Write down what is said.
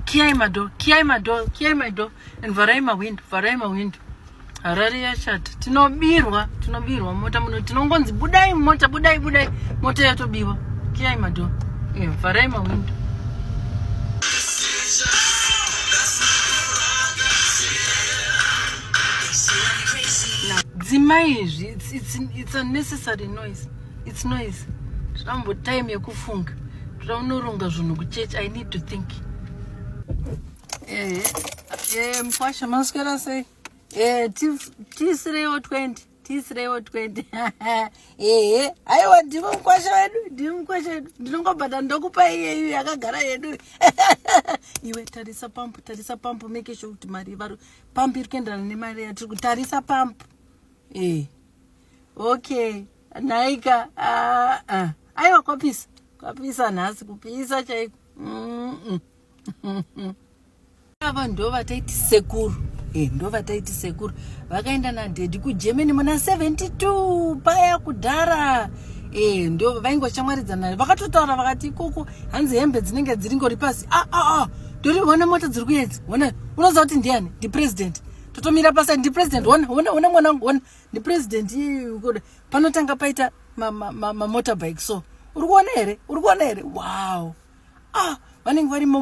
kiyai mado kiyai mado kiyai mado and vharai mahwindo vharai mahwindo harare yashata tinobirwa tinobirwa mota muno tinongonzi budai mota budai budai mota yatobiwa kiyai mado eh, vharai mahwindo dzimai izvi it's, it's, it's a necessary noise its noise zvambo time yekufunga toda unoronga zvinhu kuchurch i need to think ehe eh, mkwasha maswera sei eh, tiisireiwo 20 tiisireiwo 20 ehe aiwa ndimo mkwasha wedu ndimo mkwasha wedu ndinongobhata ndokupa iyeyu yakagara yedu iwe tarisa pampu tarisa pampu make sure kuti mari pampu iri kuenderana nemari yatiri kutarisa pampu ee eh. okay nhaika ah, ah. aiwa kwapisa kwapisa nhasi kupisa chaiko ava ndo vataiti sekuru eh, ndo vataiti sekuru vakaenda nadhedhi kugermany muna 72 paya kudhara eh, ndo vainge vachamwaridzana vakatotaura vakati ikoko hanzi hembe dzinenge dziri ngori pasi ah, ah, ah. ndori vona mota dziri kuedzi vona unoziva kuti ndiani ndipresident totomira pasa ndi president hona hona hona mwana wangu hona ndi president panotanga paita mamotorbike so uri kuona here uri kuona here wow ah vanenge varimo